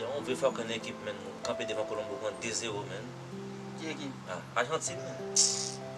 Yow on vre fuckin ekip menn nou kanpe devan colombo pran 2 zero menn. Ki ekip? Ah Argentine menn.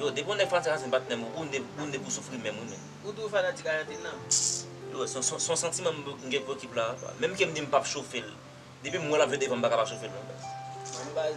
Yow depi yon nèg fanatik Argentine bat menm ou ou ne pou soufri menm wi menn. Ou tou fanatik Argentine nan? Yow son santiman m gen pou ekip la. Menm kem di m pap chofel. Depim wè lap jwe devanm m paka pa chofel non baz. Bon baz.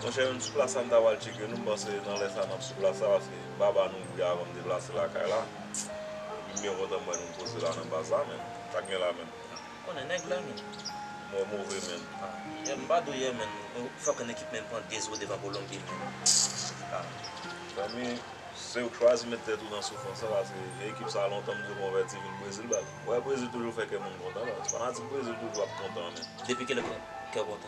Monchè menm sou plas la m ta pral tcheke nou m panse nan lè sa nap sou plas la paske baba nou ouvri avan m deplase lakay la epi m byen kontan m wè nou m poze la nan baz la men sa gen la menm. M konnen nèg la menm. Mò move menm. Yè m pa dou yè menm nou fòk yon ekip menm pran 2 zo devan kolonbi menm ah. Zanmi sew k chwazi met tèt ou nan soufrans lan paske vye ekip sa lontan m diw konvèti vin brezil bat wè brezil toujou fè kè moun kontan baz fanatik brezil toujou ap kontan men. Depi kilè kèw kontan.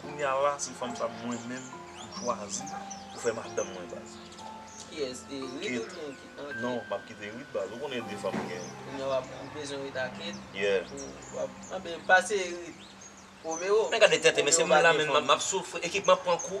Kounya la se fanm sa mwen menm m chwazi pou fè madanm mwen baz. Kiyès e Rit oubyen ki an ki. Non map kite Rit baz ou konnen 2 fanm gen. Kounya wap ou bezwen Rit ak Ed. Yeah. Ou wap anben pase Rit. Romero. Men gade tenten mesye m la menm map soufri ekip map pran kou.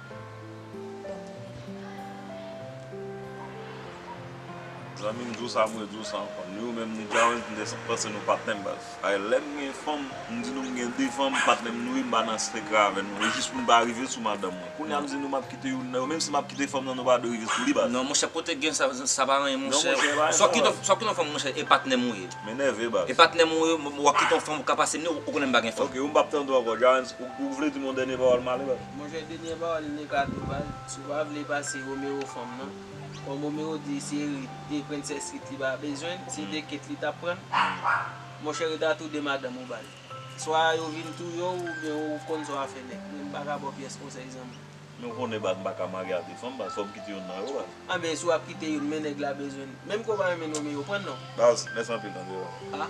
Zanmi m di w sa mwen di w sa ankò ni ou menm ni Djawens m te panse nou pat menm baz paske lè m gen fanm m di nou m gen 2 fanm patnè m nouri m pa nan sekrè avè nou e jis pou nou pa rive sou madanm mwen kounye a m di nou m ap kite youn nan yo menm si m ap kite fanm nan nou pa dwe rive sou li baz. Non monchè kote gen sa sa pa anyen monchè swa w kite swa w kite yon fanm monchè e patnè m ou ye m enève baz e patnè m ou ye w ap kite yon fanm ou ka pase m ni ou konnen m pa gen fanm. Ok ou m pap tande w ankò Djawens ou vle di m yon dènye pawòl m ale baz. Monchè denyè pawòl li nan kado bal, si w pa vle pase Romero fanm nan, kòm Romero di se Rit, e prensès Rit li pa bezwen, se 2 ket li tap pran, monchè Rit a tou 2 madanm ou bal. Swa yo vin touye w oubyen ou konn sa w ap fè nèg, mwen m paka ba w pyès konsèy zanmi. Men w konnen bal m paka marye a 2 fanm bal, fò m kite youn nan yo bal. Anben si w ap kite youn men nèg la bezwen l, menm ke w pa renmen Romero pran l non. Baz, mèsi anpil André baz. A.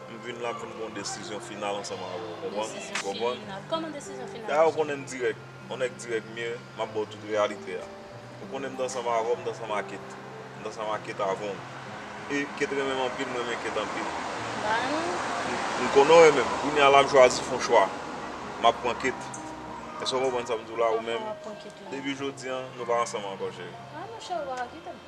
M vin la pou m pran desizyon final ansanm avè w. Konprann? Desizyon final. Kòman desizyon final? Dayè ou konnen m dirèk. Yon nèg dirèk m ye. M ap ba w tout reyalite a. Ou konnen m t ansanm avè w, m t ansanm a Kate. M t ansanm a Kate avan w. E Kate renmen m anpil, m renmen Kate anpil. M pa renmen l. M konnen w renmen m. Kounye a la m chwazi fè yon chwa. M ap pran Kate. Èske w konprann sa m di w la? Ou menm. Kòman w ap pran Kate la? Depi jodi an, nou pa ansanm ankò cheri. A monchè, ou pa ka kite m.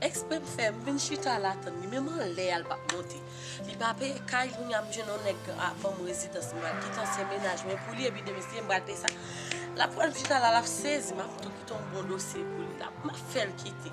Ekspre m fè, m vin chita la tann li, menm anlè a l pap monte. Li pa peye kay, kounye a m jwenn yon nèg a ban m rezidans, m pral kite ansyen mennaj mwen pou li epi demen si Dye vle m pral peye sa. L ap wè m chita la, l ap sezi, m ap tou kite yon bon dosye pou li, m ap fè l kite.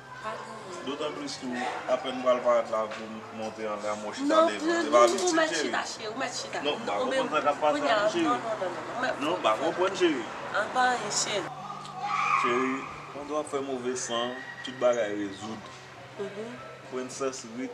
Dotan plis tou apèn m pral parèt la pou m monte anlè a m wè w chita devan e pa ap isit cheri non m pa konprann sa k ap pase la non cheri non m pa konprann cheri cheri pandan w ap fè move san tout bagay rezoud princess rit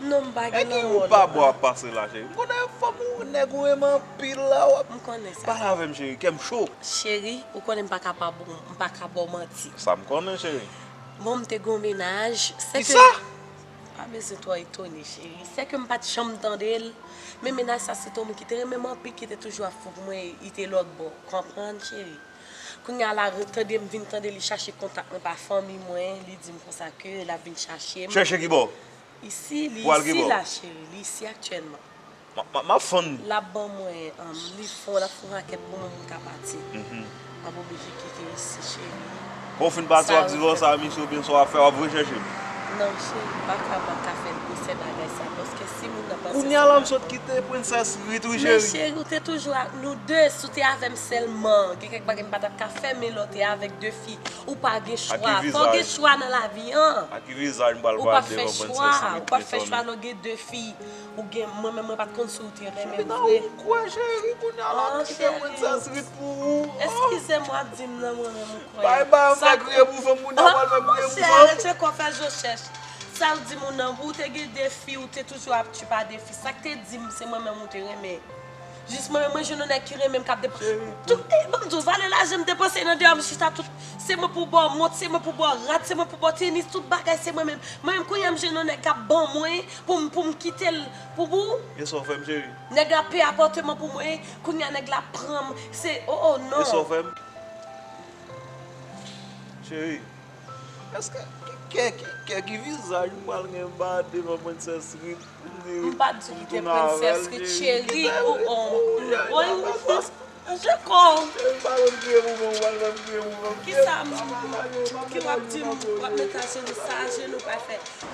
Non m pa gen lanmou non. Ede ou pa bo ap pase la cheri. M konnen fanm ou nèg ou renmen anpil la w ap. M konnen sa. Pale avè m cheri kè m cho. Cheri ou konnen m pa ka pa bon m pa ka ba w manti. Sa m konnen cheri. Bon m te gen yon mennaj. Kisa? Ou pa bezwen twò etone cheri. Se ke m pa t janm tande l. Men mennaj sa se te yon moun ki te renmen m anpil ki te toujou ap fou pou mwen e li te lòtbò. Ou konprann cheri. Kounye a la tande m vin tande li chache kontak mwen pa fanmi mwen li di m konsa ke l ap vin chache m. Chèche ki bò? Isi li isi la cheri li isi aktyèlman map fonn lap ban mwen li fon lap fon rakèt pou mwen poum ka pati map oblije kite isi cheri kò ou fin pati wap di lò sa misye oubyen sa wap fè wap vre chèche m nan cheri m paka mwen ka fè gwosè bagay sa paske si moun nan panse se kounya la m sot kite princess rit wi cheri men cheri ou te toujou ak nou 2 si w te avèm sèlman gen kèk bagay m patap ka fè men lè w te avèk 2 fi ou pa gen chwa fò w gen chwa nan lavi an. Ou pa fè chwa ou pa fè chwa non gen de fi ou gen mwen menm mwen pat konn si ou te renmen m vre eskize m wap di m nan mwen menm ou kwè monchè arèt fè kò fè zo chèch sa ou di m ou nan pou ou te gen de fi ou te toujou ap tchoupa de fi sak te di m se mwen menm ou te renmen Jis mwen mwen jwenn yon nèg ki renmenm kap depan tout ey banm diw valè lajanm depanse nan deyòm chita tout se mwen pou baw mont se mwen pou baw rad se mwen pou baw tenis tout bagay se mwen menm mwen menm kounyam jwenn yon nèg kap ban mwen poum poum kitel pou pou Esa w fèm cheri. Nèg la peye apòteman pou mwen kounya nèg la pranm se oh oh non. Esa w fèm cheri. Eske kè ki vizaj m pral gen ba devan princess Ruth pou m di pou m tounen avèl cheri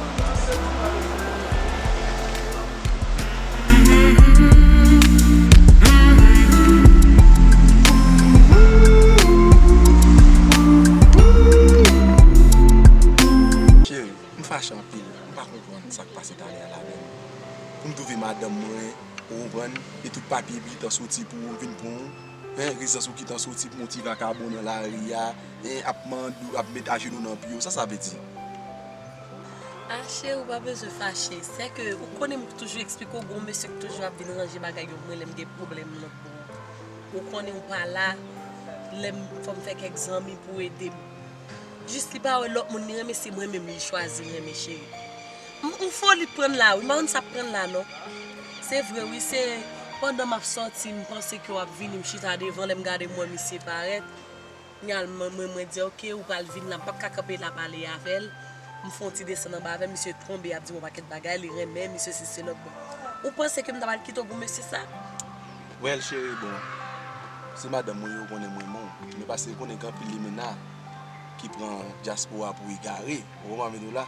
Cheri, m fache anpil, m pa konprann sa k pase talè a la menm. Pou m twouve madanm mwen, ou konprann, e tout papye li tan soti pou ou vin pran ou, hein, rezidans ou ki tan soti pou yon ti vakabon nan lari a, hein, ap mande ou, ap met ajenou nan pye ou, sa sa vle di? Fache ou pa bezwen fache se ke ou konnen m k toujou eksplike w gen yon mesye k toujou ap vin ranje bagay yo pou mwen lè m gen pwoblèm m nan pou ou ou konnen ou pa la lè m fò m fè kèk zanmi pou ede m jis li pa wè lòt moun li renmen se mwen menm li chwazi renmen cheri m on foli k pran l la wi m pa konn sa k pran l la non se vre wi se pandan m ap sòti m panse ke w ap vini m chita devan lè m gade m wè misye parèt. Nyal mwen mwen mwen di ok ou pral vin la m pat ka kanpe la pale avèl m fon ti desann anba avèl misye tonbe ap di m yon pakèt bagay li renmen m misye sesi selòt bon ou panse ke m ta pral kite w pou mesye sa. Well chérie bon se madanm mwen yo konnen m renmen w men paske yo konnen gen anpil limena ki pran dyaspora pou egare ou konprann sa m vle di w la.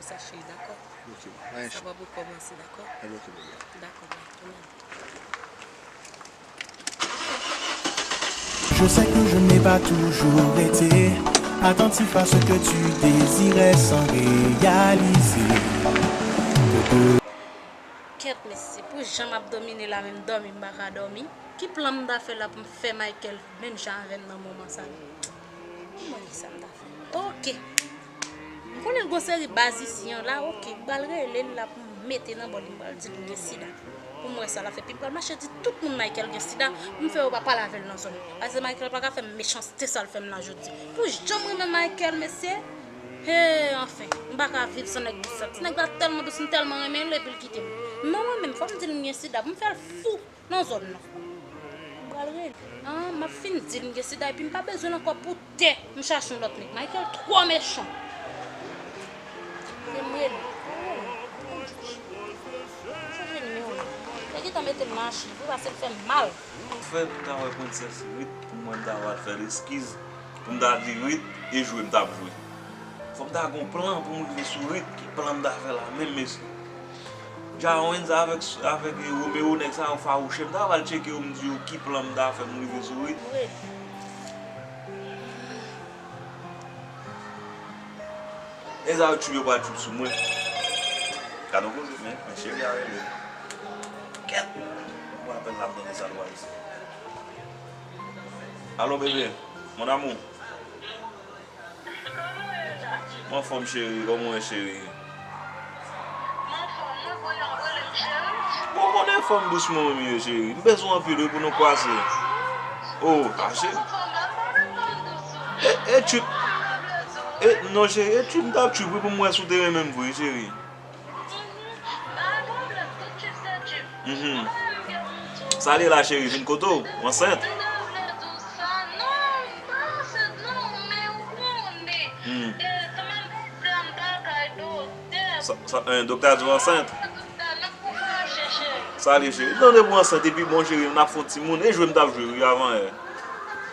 Sa cheri dakò. Ok bye. Sa pap rekomanse dakò. Epi ok bye bye. Dakò bye tou menm. Je sais que je n'ai pas toujours été attentif à ce que tu désirais sans réaliser que de Kèt mesye pou jan map domine la menm domi m paka domi ki plan m ta fè la pou m fè Michael menm jan avèm nan moman sa m manke sa m ta fè ok. M konnen gon seri baz isi yon la ok m pral relel la poum mete nan bòl m pral dil m gen sida poum wè sa lap fè epi m pral mache di tout moun Michael gen sida poum fè yo pa pale avèl nan zòn nan paske Michael paka fèm mechanste sal fèm la jodi pou janm renmen Michael mesye hee anfen m paka viv san nèg dous la ti nèg la tèlman dous m tèlman renmenl epil kitem non mwen menm fòm dil m gen sida poum fèl fou. nan zòn nan. M pral rele an m ap fin di l m gen sida epi m pa bezwen l ankò pou tè m chache yon lòt nèg Michael twò mechan Rele m rele m Chanje nimewo nan Li gentan mete m nan achiv wi pase l fè m mal. Frè m ta wè princess Ruth pou mwen m ta wè al fè l eskiz pou m ta di Ruth e jwe m t ap jwe. Fò m ta gen yon plan pou m rive sou Ruth ki plan m ta fè la menm mesye. Jawens avek Romero neg sa yo fawouche. M ta pral tcheke yo m di yo ki plan m ta fè m rive sou yo. Neg sa yo tchuipe pral tchuip sou mwen. Gad on koze men cheri a rele m. Kèt! M pran apèl la m tande sa l pral di. Alo bebe, mon amour. M anfòm cheri, kòman ou ye cheri? M anfòm mwen konnen w ap rele m cheri. Bon w konnen fòm dous mwen menm ye cheri. M bezwen w anpil wi pou nou kwase. O a cheri. E tchuipp. E non cheri e tchuipp m t ap tchuipp wi pou m wè si w te renmen m vre cheri. Sa li la cheri vin kote w ansent. Doktè a di w ansent. Sa li cheri. Nan depi w ansent epi bon cheri nap fon timoun. E jwe m tap jwe wi avan yè.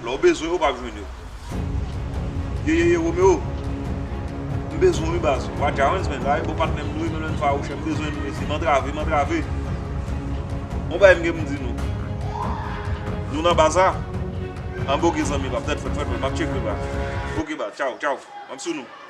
Lè w bezwen yo pap jwenn yo. Yeyeye Romeo M bezwen w wi baz Wa Jarens men sa e bon patnè m nou ye menm lè n fawouchè M bezwen nou mesye M antrave m antrave On bagay m gen pou m di nou Nou nan baz la Anba ok zanmi pam tèt frèt frèt mwen Map tcheke la Ok baz tchaw tchaw Map sou nou.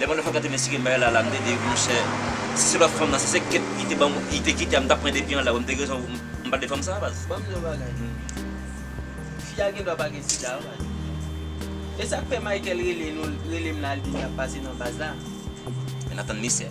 Lè mwen te fèk antre nan sirèn Mayela la, m te di, monchè, si se lòt fanm nan, si se Kate li te banm, li te kite a, m tap pran depi anlè wi, m te gen rezon pou m pale de fanm sa a baz. Banm di w yon bagay Mayela, fi a gen dwa pa gen sida wi baz. E sak fè Michael rele nou, rele m la, li di li ap pase nan baz la. Mwen ap tann misye.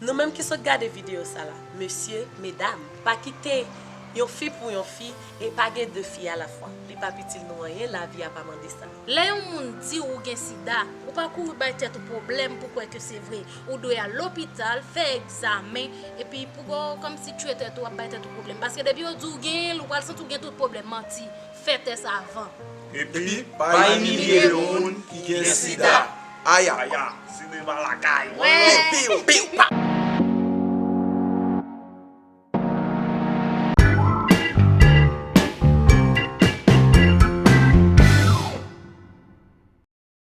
Nou menm ki sot gade video sa la mesye, medam pa kite Yon fi pou Yon fi e pa gen 2 fi alafwa li pap itil nou anyen lavi a pa mande sa. Lè yon moun diw ou gen sida, ou pa kouri bay tèt ou pwoblèm pou kwè ke se vre. Ou dwe al lopital, fè egzamen, epi pou ba w kòm si tchwe tèt ou ap bay tèt ou pwoblèm. Paske depi yo di w genyen l, ou pral santi w gen tout pwoblèm. Manti. Fè tès avan. Epi pa imilye yon moun ki gen sida. Aya! Aya! Sinema lakay! Piw! Piw! Piw! Pa!